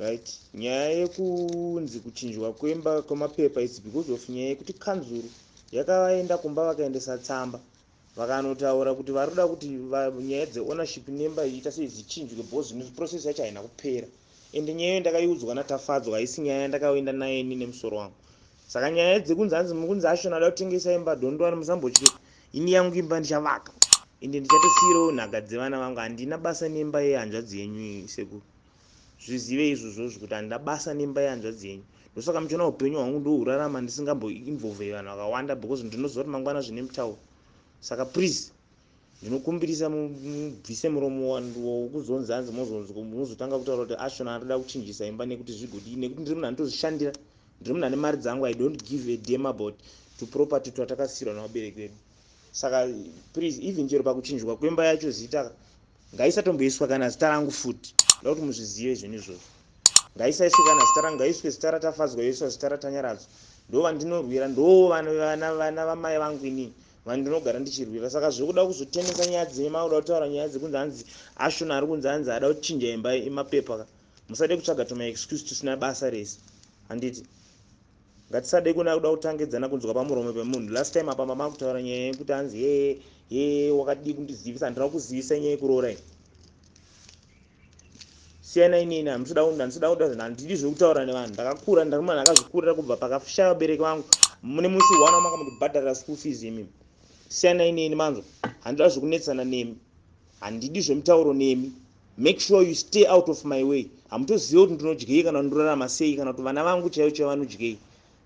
right nyaya yekunzi kuchinjwa kwemba kwemapepa its because of nyaya yekuti kanzuru yakavaenda kumba vakaendesa tsamba vakanotaura kuti vari kuda kuti nyaya dzeownership nemba iita sei dzichinjwe because zvino process yacho haina kupera ende nyaya iyo ndakaiudzwa natafadzwa haisi nyaya yandakaenda naye ini nemusoro wangu saka nyaya dzekunzi hanzi mukunzi ashona ada kutengesa imba dondwani musambotye ini yangu imba ndichavaka ende ndichatosiirawo nhaka dzevana vangu handina basa nemba yehanzvadzi yenyu sekuru zvizive izvozvozvo kuti handina basa nemba yehanzvadzi yenyu ndosaka muchiona upenyu hwangu ndohurarama ndisingamboinvolvei vanhu vakawanda because ndinoziva kuti mangwana zvine mutauro saka please ndinokumbirisa mubvise muromo wokuzonzi hanzi mozotanga kutaura kuti ashona anoda kuchinjisa imba nekuti zvigodii nekuti ndiri munhu anotozvishandira ndiri munhu ane mari dzangu i don't give a dam about tuproperty twatakasiirwa navabereki vedu saka please even chero pakuchinjwa kwemba yacho zita ngaisatomboiswa kana zita rangu futi ndoda kuti muzvizive izvoni izvozvo ngaisaiswe kana zita rangu ngaiswe zita ratafadzwa yoiswa zita ratanyaradzwa ndo vandinorwira ndo vana vamai vangu inini vandinogara ndichirwira saka zvekuda kuzotenesa nyaya dzine makuda kutaura nyaya dzekunzi hanzi ashona ari kunzi hanzi ada kuchinja imba imapepa ka musade kutsvaga tuma excuse tusina basa rese handiti Ngatisade kuenda kuda kutangidzana kunzwa pamuromo pemunhu last time apa mama kutaura nyaya yekuti hanzi hee hee wakadii kundizivisa handina kukuzivisa nyaya yekuroora iyi siyana inini handisida handisida kuda zvinhu handidi zvekutaura nevanhu ndakakura ndari munhu akazvikurira kubva pakashaya vabereki vangu mune musi one wamanga mundibhadharira school fees imimi siyana inini manzwa handida zvekunetsana nemi handidi zvemutauro nemi Make sure you stay out of my way. Hamutozive kuti ndinodyei kana kuti ndorarama sei kana kuti vana vangu chaivo chaivo vanodyei.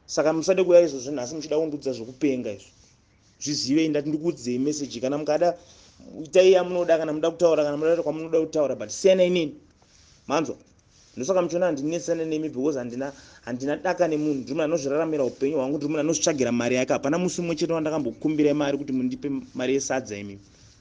Saka musade kuuya izvozvo nhasi muchida kundiudza zvekupenga izvo. Zvizivei ndati ndikuudzei message kana mukada itai yamunoda kana munoda kutaura kana munoda kwamunoda kutaura but siyana inini. Manzwa? Ndosaka muchiona handinetsane nemi because handina handina daka nemunhu ndiri munhu anozviraramira upenyu hwangu ndiri munhu anozvitsvagira mari yake hapana musi umwe chete wandakambokukumbirai mari kuti mundipe mari yesadza imimi.